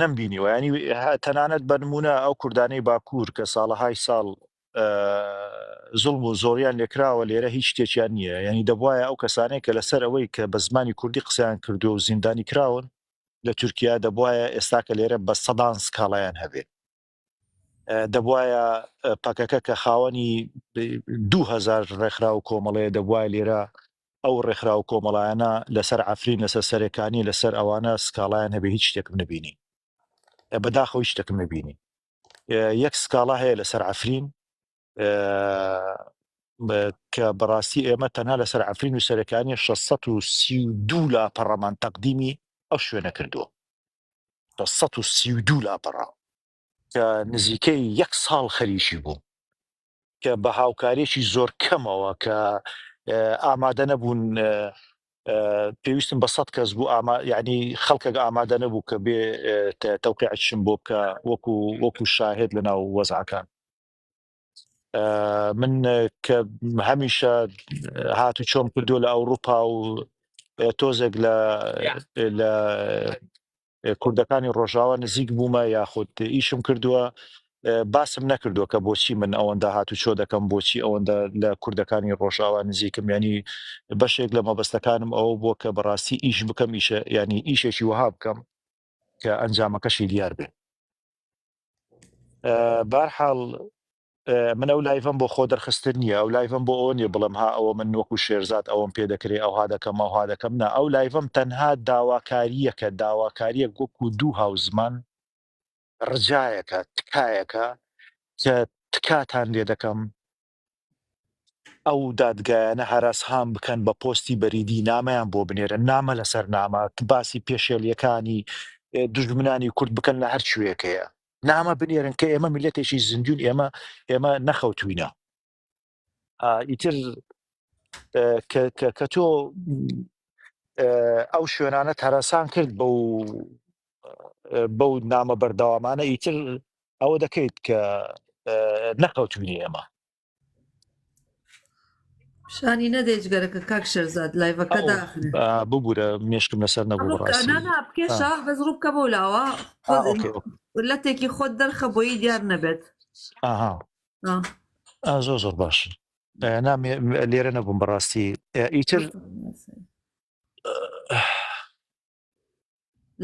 نەم بینیوە ینی تەنانەت بەنمونە ئەو کوردانەی باکوور کە ساڵەهای ساڵ زڵم و زۆریان لێکراوە لێرە هیچ شتێکیان نییە ینی دەبواە ئەو کەسانەیە کە لەسەر ئەوەی کە بە زمانی کوردی قسەیان کردو و زیندانی کراون لە تورکیا دەبواە ئێستاکە لێرە بە سەدان سکاڵایان هەبێت دەبوایە پەکەکە کە خاوەنی دو هەزار ڕێکخرا و کۆمەڵەیە دەبوایە لێرە ئەو ڕێکخرا و کۆمەڵایەنە لەسەر عفرین لەسەر سەرێکانی لەسەر ئەوانە سکاڵایان هەبێ هیچ شتێکم نبینی بەداخەوە هیچ شتێکم نبینی یەک سکاڵا هەیە لەسەر عفرین کە بەڕاستی ئێمە تەنها لەسەر عفرین و سەرەکانی 1632 لا پەڕەمان تەقدیمی ئەو شوێنە کردووە بە سەد و سی و دوو لاپەڕە کە نزیکەی یەک ساڵ خەریکی بووم کە بە هاوکارێکی زۆر کەمەوە کە ئامادە نەبوون پێویستم بە سەد کەس بوو ئاما یعنی خەڵکەکە ئامادە نەبوو کە بێ تەوقعشم بۆ بکە وەکو وەکو شاهێت لە ناو وەزعەکان من کە هەمیشە هات و چۆم کردو لە ئەوروپا و تۆزێک لە لە کوردەکانی ڕۆژاوا نزیک بوومە یاخود ئیشم کردووە باسم نەکردووە کە بۆچی من ئەوەندە هات و چۆ دەکەم بۆچی ئەوەندە لە کوردەکانی ڕۆژاوا نزیکم ینی بەشێک لە مەبەستەکانم ئەوە بووە کە بەڕاستی ئیش بکەم ئیشە ینی ئیشێکی وها بکەم کە ئەنجامەکەشی دیار بێ بارحاڵ من ئەو لایڤم بۆ خۆ دەرخستن نیە ئەو لایڤم بۆ ئەوە نیە بڵم ها ئەوە من وەکو شێرزاد ئەوم پێ دەکرێ ئەوها دەکەم ئەوها دەکەم نا ئەو لایڤم تەنها داواکاریەکە داواکاریە وەکو دوو هاو زمان ڕجایەکە تکایەکە کە تکاتان لێ دەکەم ئەو دادگایانە هەرەسهام بکەن بە پۆستی بەریدی نامەیان بۆ بنێرن نامە لەسەر نامە باسی پێشێلیەکانی دژمنانی کورد بکەن لە هەر شوێکەیە نامە بنێرن کە ئێمە میلەتێکی زیندوون ئێمە ئێمە نەخەوتوینە ئیتر کە تۆ ئەو شوێنانە تەرەسان کرد بە و بەو نامە بەردەوامانە ئیتر ئەوە دەکەیت کە نەکەوتبینی ئێمە شانی نەدەێت گەرەکە کاک شەرزاد لایڤەکە داخن ببوورە مشکم لەسەر نەبوو بکێشە بەس ڕوو بکە بۆ لاوە لەتێکی خۆت دەرخە بۆی دیار نەبێت زۆر زۆر باش لێرە نەبووم بەڕاستی ئیتر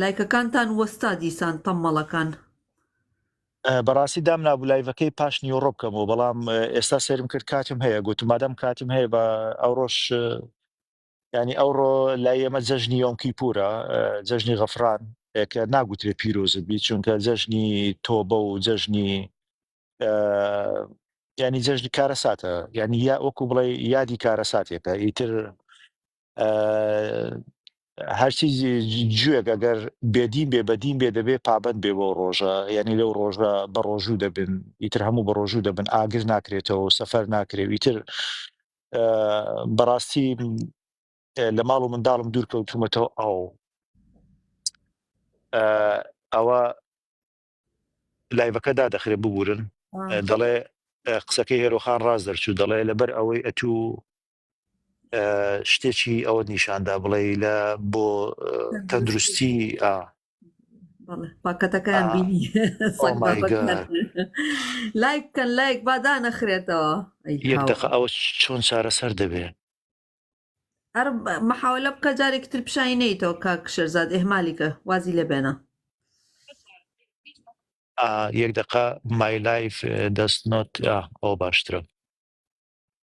لایکەکانتان وەستا دیسان تەممەڵەکان. بەڕاستی دامنابوو لایڤەکەی پاش نیوەڕۆ بکەمەوە بەڵام ئێستا سێرم کرد کاتم هەیە گوتم مادام کاتم هەیە بە ئەوڕۆش ینی ئەوڕۆ لای ئێمە جەژنی یۆمکی پورە جەژنی غەفران کە ناگوترێ پیرۆزت بی چونکە جەژنی تۆبە و جەژنی ینی جەژنی کارە ساتە ینی یا وەکو بڵێ یادی کارە ساتێکە ئیتر هەرچی جوێک ئەگەر بێدین بێ بەدین بێ دەبێ پابەت بێ بۆ ڕۆژە یعنی لەو ڕۆژە بە ڕۆژوو دەبن ئیتر هەموو بە ڕۆژوو دەبن ئاگر ناکرێتەوە سەفەر ناکرێ ئیتر بەڕاستی لە ماڵ و منداڵم دوور کەوتومەتەوە ئەو ئەوە لایڤەکەدا دەخرێ ببورن دەڵێ قسەکەی هێرۆخان ڕاز دەرچوو دەڵێ لەبەر ئەوەی ئەتوو شتێکی ئەوە نیشاندا بڵێ لە بۆ تەندروستی پاکەتەکان بینی لایک کەن لایک بادا نەخرێتەوە یەک دقە ئەوە چۆن چارەسەر دەبێ هەر مەحاولە بکە جارێک تر پیشانی نیتەوە کا کشەرزاد ئێمالیکە وازی لە بێنە یەک دقە مای لایف دەست نۆت ئەو باشترە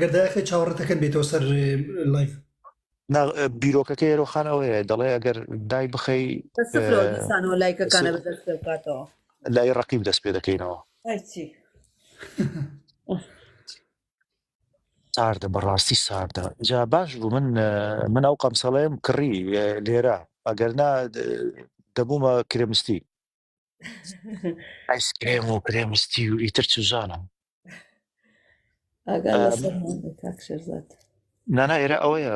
گەر داخی چاوەڕەتەکەن بێتەوە سەر لایف بیرۆکەکە ئێرۆخان ئەوەیە دەڵێ ئەگەر دای بخەی لایکەکانە بکاتەوە لای ڕقیب دەست پێ دەکەینەوە ساردە بەڕاستی ساردە جا باش بوو من من ئەو قەمسەڵێم کڕی لێرە ئەگەرنا دەبوومە کرێمستی ئایسکرێم و کرێمستی و ئیتر چوزانم نانا ئێرە ئەوەیە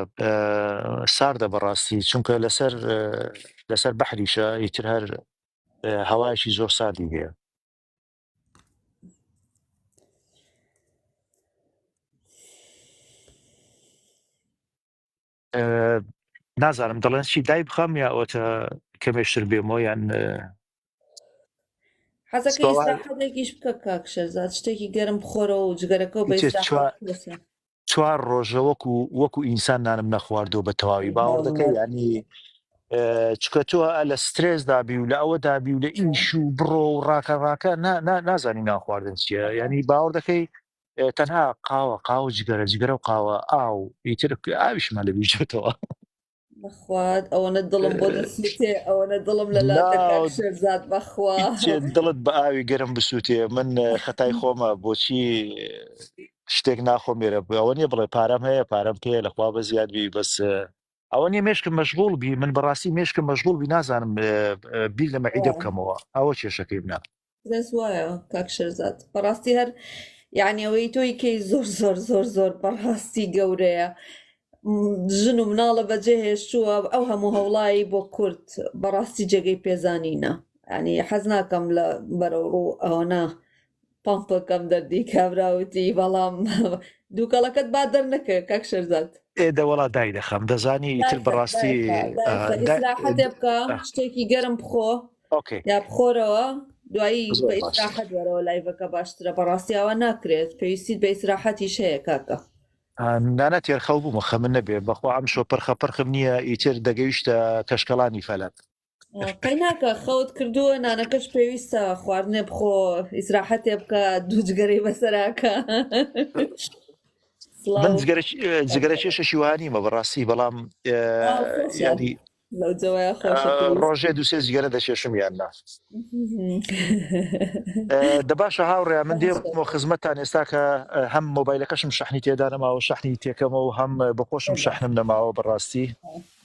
ساردە بەڕاستی چونکە لەسەر لەسەر بەحریشە ئیتر هەر هەوایشی زۆر ساردی هەیە نازانم دەڵێن چی دای بخەم یا ئەوتە کەمێشتر بێمەوە یان حەزەکە ئێستاحەدێکیش بکە کاکشەرزاد شتێکی گەرم بخۆرەوە و جگەرەکە و بە چوار ڕۆژە وەکو وەکو ئینسان نانم نەخواردەوە بە تەواوی باوەڕەکە ینی چکە تۆ لە سترێس دابی و لە ئەوە دابی و لە ئیش و بڕۆ و ڕاکە ڕاکە نازانی ناخواردن چیە ینی باوەڕ دەکەی تەنها قاوە قاو جگەرە جگەرە و قاوە ئاو ئیتر ئاویشمان لە بیژێتەوە بەخوات ئەوەنە دڵم بۆ دەسووتێ ئەوەنە دڵم لە لازات بەخوا دڵت بە ئاوی گەرم بسووتێ من خەتای خۆمە بۆچی شتێک ناخۆم مێرە بووەوە نیە بڵێ پارەم هەیە پارەم پێ لەخوا بە زیادبی بەس ئەوە نیە مێشکم مەشغوڵ بی من بەڕاستی مێشکم مەشغوڵ بی نازانم بیر لە مەعیدە بکەمەوە ئەوە کێشەکەی بنا دەس وایە کاک شەرزاد بەڕاستی هەر یعنی ئەوەی تۆی کەی زۆر زۆر زۆر زۆر بەڕاستی گەورەیە ژن و مناڵە بەجێ هێشتووە ئەو هەموو هەوڵایی بۆ کورد بەڕاستی جێگەی پێزانینە ینی حەز ناکەم لە بەرەوڕوو ئەوەنا پەمپەکەم دەردی کابرا وتی بەڵام دووکەڵەکەت با دەرنەکەوێت کاک شێرزاد. ئێ دەوەڵا داینەخەم دەزانی ئیتر بەڕاستی ئیسراحەتێ بکە شتێکی گەرم بخۆ ئۆکەی یا بخۆرەوە دوایی بە ئیسراحەت وەرەوە لایڤەکە باشترە بەڕاستیاوە ناکرێت پێویستیت بە ئیسراحەتیش هەیە کاکە نانە تێرخەڵ بوومە خەمن نەبێ بەخوا ئەم شۆ پرخە پرخم نییە ئیتر دەگەیشتە کەشکەڵانی فەلەک قەیناکە خەوت کردووە نانەکەش پێویستە خواردنێ بخۆ ئیسراحەتێ بکە دوو جگەرەی بەسەراکە من جگەرە کێشە شیوانیمە بەڕاستی بەڵام ینی ڕۆژێ دوسێ جگەرە دەکێشم یان نا دەباشە هاوڕێ من دێ بۆ خزمەتتان ئێستا کە هەم مۆبایلەکەشم شەحنی تێدا نەماوە شەحنی تێکەمە و هەم بەخۆشم شەحنم نەماوە بەڕاستی